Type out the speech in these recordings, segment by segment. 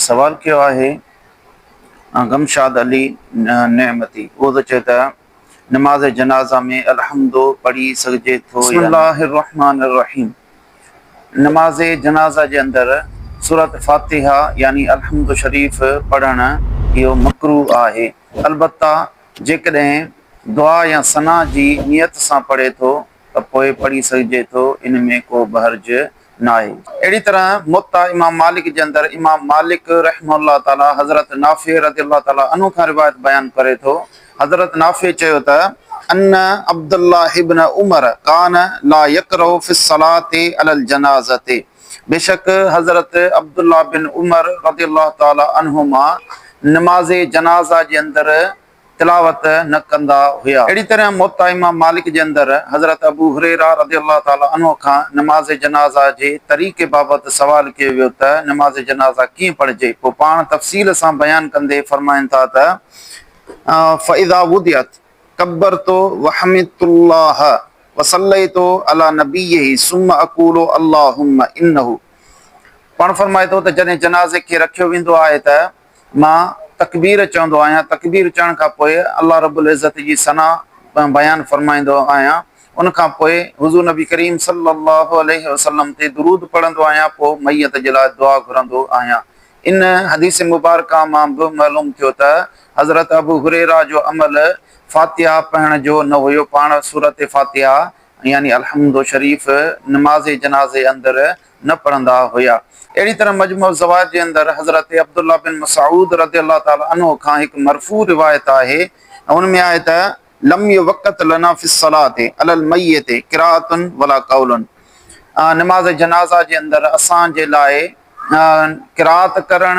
سوال ڪيو آهي غمشاد علي نعمتي اهو ٿو چئي ته نماز جنازه ۾ الحمد پڙهي سگهجي ٿو يا نه؟ بسم الله الرحمٰن الرحيم نماز جنازه جي اندر سورة فاتحه يعني الحمد شريف پڙهڻ اهو مڪروه آهي البته جيڪڏهن دعا يا ثنا جي نيت سان پڙهي ٿو ته پوء پڙهي سگهجي ٿو، ان ۾ ڪو به حرج ناهي. اهڙي طرح موطا امام مالڪ جي اندر امام مالڪ رحمه الله تعاليٰ حضرت نافع رضي الله تعاليٰ عنه کان روايت بيان ڪري ٿو، حضرت نافع چيو ته، ان عبد الله بن عمر ڪان لا يقرء في الصلاة علي الجنازة بيشڪ حضرت عبد الله بن عمر رضي الله تعاليٰ عنهما نماز جنازه جي اندر تلاوت نه ڪندا هيا. اهڙي طرح موطا امام مالڪ جي اندر حضرت ابو هريره رضي الله تعالٰي عنه کان نماز جنازه جي طريقي بابت سوال ڪيو ويو ته نماز جنازه ڪيئن پڙهجي؟ پوء پاڻ تفصيل سان بيان ڪندي فرمائن ٿا ته، فاذا وضعت ڪبرت وحمدت الله وصليت علي نبيه ثم اقول اللهم انه پاڻ فرمائي ٿو ته جڏهن جنازي کي رکيو ويندو آهي ته. مان تڪبير چوندو آهيان، تڪبير چوڻ کان پوء الله رب العزت جي ثنا بيان فرمائيندو آهيان، ان کان پوء حضور نبي ڪريم صلي الله عليه وسلم تي درود پڙهندو آهيان پوء ميت جي لاء دعا گهرندو آهيان. ان حديث مبارڪه مان به معلوم ٿيو ته حضرت ابو هريره جو عمل فاتحه پڙهڻ جو نه هيو، پاڻ سورة فاتحه يعني الحمد شريف نماز جنازي اندر نه پڙهندا هيا. اهڙي طرح مجموع الزوائد جي اندر حضرت عبدالله بن مسعود رضي الله تعالٰي عنه کان هڪ مرفوع روايت آهي ۽ ان ۾ آهي ته، لم يوقت لنا في الصلاة علی المیت قراءة ولا قول نماز جنازه جي اندر اسان جي لاء قراءت ڪرڻ،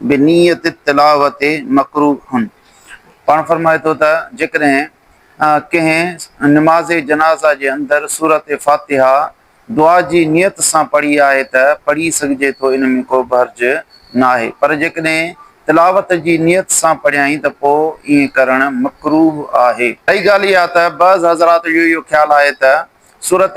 بنيت التلاوة مڪروهه، پاڻ فرمائي ٿو ته جيڪڏهن ڪنهن نماز جنازه جي اندر سورة فاتحه دعا جي نيت سان پڙهي آهي ته پڙهي سگهجي ٿو ان ۾ ڪو به حرج ناهي پر جيڪڏهن تلاوت جي نيت سان پڙهيائين ته پوء ائين ڪرڻ مڪروهه آهي. ٻئي ڳالهه اها ته بعض حضرات جو اهو خيال آهي ته سورة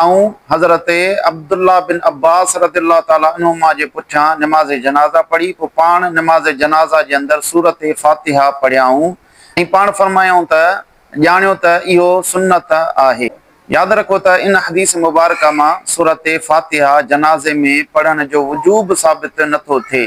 آئون حضرت عبدالله بن عباس رضي الله تعالٰي عنهما جي پٺيان نماز جنازه پڙهي پوء پاڻ نماز جنازه جي اندر سورة فاتحه پڙهيائون ۽ پاڻ فرمايائون ته، ڄاڻيو ته اهو سنت آهي. ياد رکو ته ان حديث مبارڪه مان سورة فاتحه جنازي ۾ پڙهڻ جو وجوب ثابت نٿو ٿئي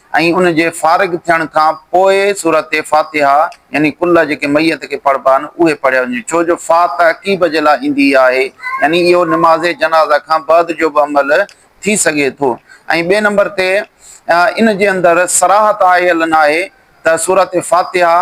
۽ ان جي فارغ ٿيڻ کان پوء سورت فاتحه يعني ڪلها جيڪي ميت کي پڙهبا آهن اهي پڙهيا وڃن ڇو جو فا تعقيب جي لاء ايندي آهي يعني اهو نماز جنازه کان بعد جو به عمل ٿي سگهي ٿو ۽ ٻئي نمبر تي ان جي اندر صراحت آيل ناهي ته سورت فاتحه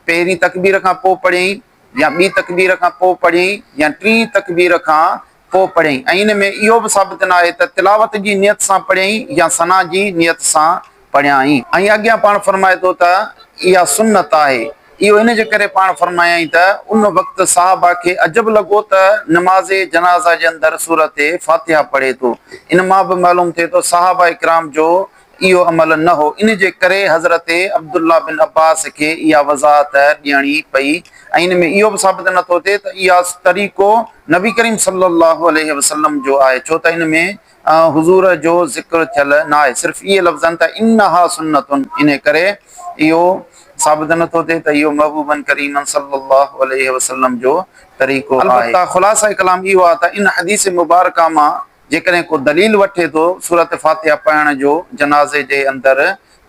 پهرين تڪبير کان پوء پڙهين يا ٻي تڪبير کان پوء پڙهين يا ٽين تڪبير کان پوء پڙهيائين ۽ ان ۾ اهو به ثابت نه آهي ته تلاوت جي نيت سان پڙهيائين يا ثنا جي نيت سان پڙهيائين ۽ اڳيان پاڻ فرمائي ٿو ته اها سنت آهي اهو ان جي ڪري پاڻ فرمايائين ته ان وقت صحابه کي عجب لڳو ته نماز جنازه جي اندر سورة فاتحه پڙهي ٿو ان مان به معلوم ٿئي ٿو صحابه ڪرام جو اهو عمل نه هو، ان جي ڪري حضرت عبدالله بن عباس کي اها وضاحت ڏيڻي پئي ۽ ان ۾ اهو به ثابت نه ٿو ٿئي ته اها طريقو نبي ڪريم صلّي اللّٰه عليه وسلّم جو آهي، ڇو ته ان ۾ حضور جو ذڪر ٿيل ناهي، صرف اهي لفظ آهن ته انها سنّة، ان ڪري اهو ثابت نه ٿو ٿئي ته اهو محبوبًا ڪريمًا صلّي اللّٰه عليه وسلّم جو طريقو آهي. البته خلاصه ڪلام اهو آهي ته ان حديث مبارڪه مان جيڪڏهن ڪو دليل وٺي ٿو سورة فاتحه پڙهڻ جو جنازي جي اندر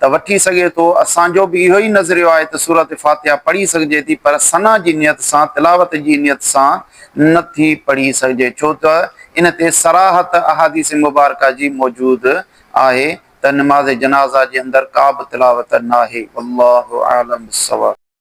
ته وٺي سگهي ٿو، اسان جو به اهو ئي نظريو آهي ته سورة فاتحه پڙهي سگهجي ٿي پر ثنا جي نيت سان تلاوت جي نيت سان نه ٿي پڙهي سگهجي ڇو ته ان تي صراحت احاديث مبارڪه جي موجود آهي ته نماز جنازه جي اندر ڪابه تلاوت ناهي والله اعلم بالصواب.